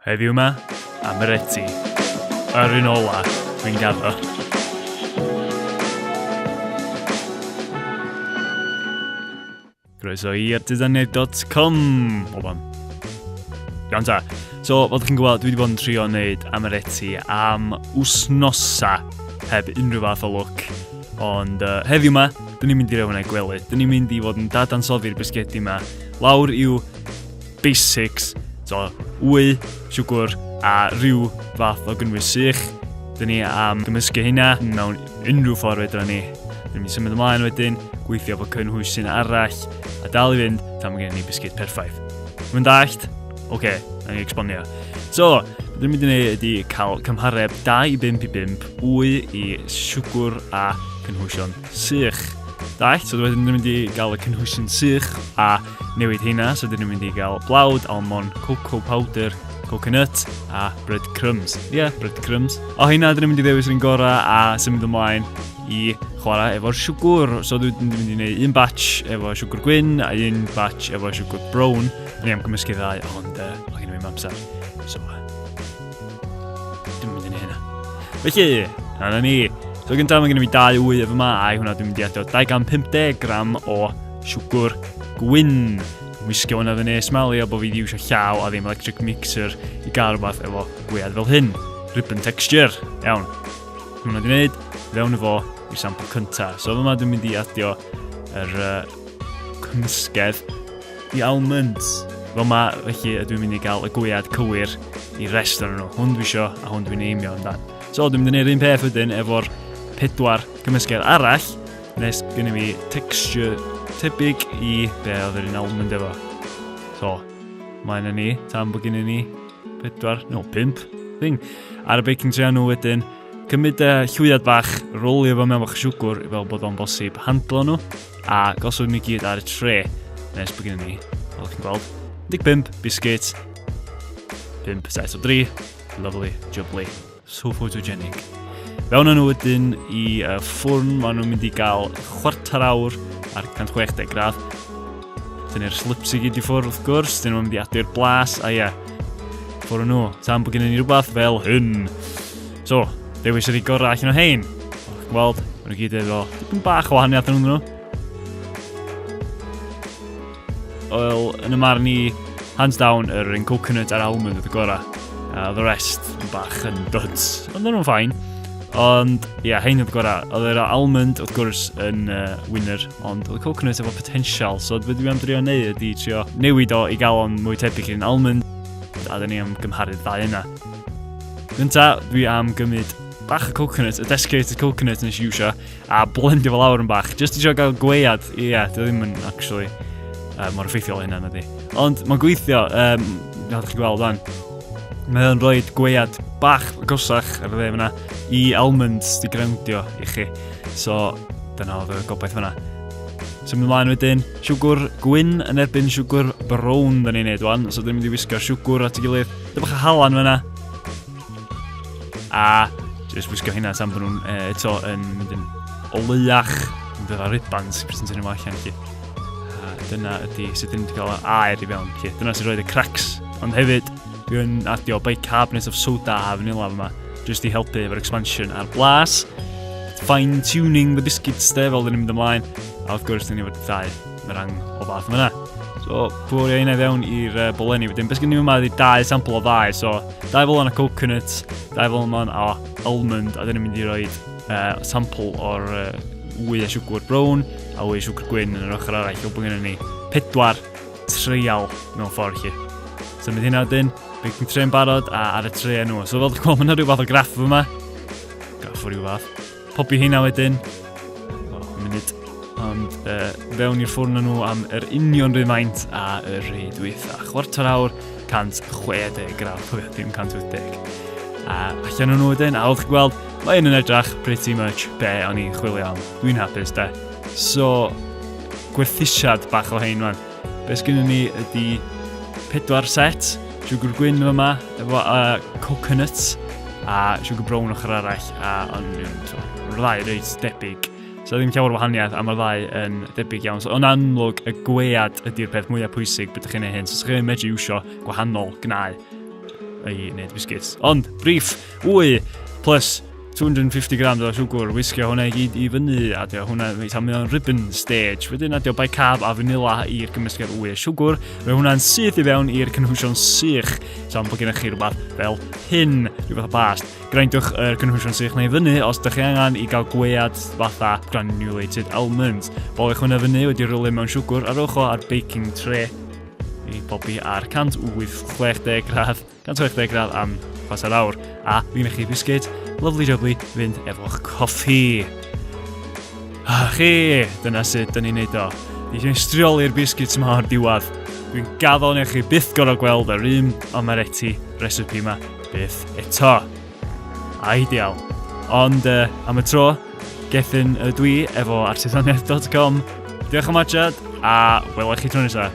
Heddiw ma, am yr eti. Yr un ola, dwi'n gaddo. Croeso i artisanedd.com Oban. Iawn ta. So, fel chi'n gwybod, dwi wedi bod yn trio wneud amaretti am wsnosa heb unrhyw fath o look. Ond uh, heddiw yma, dyn ni'n mynd i rewn ei gwely. Dyn ni'n mynd i fod yn dadansoddi'r bisgedi yma. Lawr i'w basics, so wy, siwgr a rhyw fath o gynnwys sych. Dyn ni am gymysgu hynna mewn unrhyw ffordd fedra ni. Dyn ni'n symud ymlaen wedyn, gweithio fo cynhwysin arall a dal i fynd tan mae gen ni bisgyd perffaith. Mae'n dallt? Oce, okay, na ni exponio. So, Dwi'n mynd i wneud ydy cael cymhareb 2 i 5 i 5 wy i siwgwr a cynhwysion Sych. Da, so wedyn ni'n mynd i gael y cynhwysion sych a newid heina, so dyn ni'n mynd i gael blawd, almond, cocoa powder, coconut a bread crumbs. Ie, yeah, bread crumbs. O heina, dyn ni'n mynd i ddewis yn gorau a symud ymlaen i chwarae efo'r siwgwr. So dyn ni'n mynd i wneud un batch efo siwgwr gwyn a un batch efo siwgwr brown. Ni am gymysgu ddau, ond uh, o gen i ddim amser. So, Dwi'n mynd i ni hynna. Felly, rhan ni. So gyntaf mae gen i fi dau wyf yma a hwnna dwi'n mynd i adio 250 gram o siwgr gwyn. Wisgo hwnna fyny, smalio bod fi wedi iwsio llaw a ddim electric mixer i gael rhywbeth efo gwead fel hyn. Ribbon texture. Iawn. Hwna di wneud, fewn efo i'r sampl cyntaf. So yma dwi'n mynd i adio yr uh, cymysgedd The Almonds. Fel ma, felly ydw i'n mynd i gael y gwyad cywir i rest o'n nhw. Hwn dwi isio a hwn dwi'n eimio amdan. So dwi'n mynd i wneud un peth wedyn efo'r pedwar cymysgedd arall, nes gen i fi texture tebyg i be oedd yr un almond efo. So, mae yna ni, tan bod gen i ni pedwar, no, pimp, thing. Ar y baking tray nhw wedyn, cymryd y llwyad bach, rolio fo mewn bach siwgwr fel bod o'n bosib handlo nhw. A gosod nhw gyd ar y tre nes bod gen ni, fel chi'n gweld, 15 biscuit, 5 set o 3, lovely, jubbly, so photogenic. Fewn nhw wedyn i uh, ffwrn, maen nhw'n mynd i gael chwarter awr ar 160 gradd. Dyn ni'r slips i gyd i ffwrn wrth gwrs, dyn nhw'n mynd i adu'r blas, a ie, ffwrn nhw. Tan bod gen i ni rhywbeth fel hyn. So, dewis ydi gorau allan o hein. Weld, maen nhw gyd efo dipyn bach o wahaniaeth yn nhw. Wel, yn y marn i, hands down, yr un coconut a'r almond oedd y gorau. Uh, the rest yn bach yn duds. Ond nhw'n ffain. Ond, ie, yeah, hein oedd gorau. Oedd yr almond, wrth gwrs, yn uh, winner, ond oedd y coconut efo potensial. So, beth dwi'n drio neu ydy trio newid o i gael o'n mwy tebyg i'n almond, a dyn ni am gymharu'r ddau yna. Gynta, dwi am gymryd bach o coconut, y desiccated coconut nes i iwsio, a blendio fel awr yn bach. Just i sio gael gweiad, ie, yeah, dwi ddim yn actually uh, mor effeithiol hynna na di. Ond mae'n gweithio, um, nath chi gweld fan. Mae o'n rhoi gweiad bach gosach ar y dde fyna i almonds di grewndio i chi. So, dyna oedd y gobaith fyna. Symud ymlaen wedyn, siwgwr gwyn yn erbyn siwgwr brown da ni'n neud wan, so dyn ni'n mynd i wisgo siwgwr at y gilydd Dyma chi halan fyna. A jyst wisgo hynna tan bod nhw'n uh, eto yn mynd yn oleiach. Yn dod â ribans i presentio'n yma allan chi. A dyna ydy sut dyn ni wedi cael air i fewn chi. Dyna sy'n rhoi y cracks. Ond hefyd, dwi'n adio bicarbonate of soda a fanila yma. Jyst i helpu efo'r expansion a'r blas. Fine tuning the biscuits de, fel dyn ni'n mynd ymlaen. A wrth gwrs, dyn ni wedi ddau Mae rhan o fath yma. So, bwrio hynna fewn i'r uh, bolenni wedyn. Beth gen i yma ydy dau sampl o ddau. So, dau fel yna coconut, dau fel yma o almond, a dyn ni'n mynd i roi uh, sampl o'r uh, wy a siwgr brown a wy a siwgr gwyn yn yr ochr arall. Fel bod gen ni pedwar treial mewn ffordd chi. So, mynd hynna wedyn, bydd yn tre'n barod a ar y treiau nhw. So, fel dwi'n gweld, mae yna rhyw fath o graff yma. Graff o rhyw fath. Popi heina wedyn. O, munud. Ond e, fewn i'r ffwrn nhw am yr union rhywun maint a y rhai dwytha. Chwarter awr, 160 gram, pwyth dim 180. A allan nhw wedyn, a oedd chi'n gweld, mae un yn edrach pretty much be o'n i'n chwilio am. Dwi'n hapus da. So, gwerthusiad bach o hein, man. Be sgynnon ni ydy pedwar set, siwgr gwyn yn yma, efo uh, coconuts, a siwgr brown ochr arall, a ond yn ddau reit debyg. So ddim llawer o wahaniaeth, a mae'r ddau yn debyg iawn. So, yn amlwg, y gwead ydy'r peth mwyaf pwysig beth ydych chi'n ei hyn. So, chi'n medru iwsio gwahanol gnau i wneud biscuits. Ond, brif, wy, plus 250 grams o siwgr, wisgio hwnna i gyd i fyny, a dio hwnna i tamu o'n ribbon stage. Wedyn adio bicab a fanila i'r gymysgedd wy a siwgr. Mae hwnna'n syth i fewn i'r cynhwysion sych. Sa'n bod gennych chi rhywbeth fel hyn, rhywbeth o bast. Grindiwch yr cynhwysion sych neu fyny os ydych chi angen i gael gwead fatha granulated almonds. Bolwch hwnna fyny wedi rhywle mewn siwgr a rowch o ar baking tray i bobi ar 160 gradd 160 gradd am chwarter awr. A fi'n eich chi bisgyd, lovely jubbly, fynd efo'ch coffi. A chi, dyna sut dyn ni'n neud o. Ni eisiau strioli'r bisgyd yma o'r diwad. Dwi'n gaddo neu chi byth gorau gweld yr un omereti recipe yma byth eto. A ideal. Ond uh, am y tro, gethyn y dwi efo artisaniaeth.com. Diolch am adjad a welwch chi tro nesaf.